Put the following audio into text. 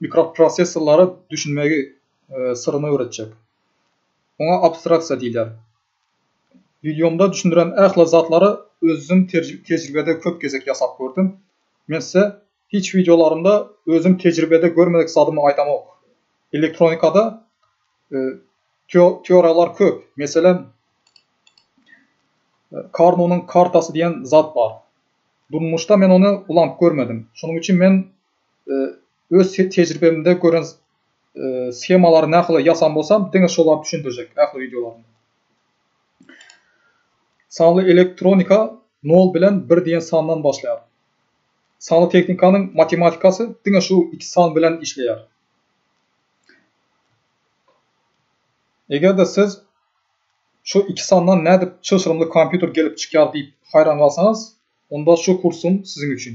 Mikroprosessorlara düşünmegi syryny öwretjek. Oňa abstraksiýa diýilýär. Wideomda düşündiren ähli zatlary özüm tejribede köp gezek ýasap gördüm. Men size hiç wideolarymda özüm tejribede görmedik zadymy aýdamok. Elektronikada teoriýalar köp. Meselem, Karnunyň kartasy diýen zat bar. Durmuşda men ony ulanyp görmedim. Şonuň üçin men Öz tejribemde gören skemalary nahili ýasan bolsam diňe şolary düşündirjek ähli wideolarymda. Sanly elektronika nol bilen bir diýen sandan başlaýar. Sanly tehnikanyň matematikasy diňe şu iki san bilen işleýär. Eger-de siz şu iki sandan nädip çylşyrymly kompýuter gelip çykýar diýip haýran galsaňyz, onda şu kursyň siziň üçin.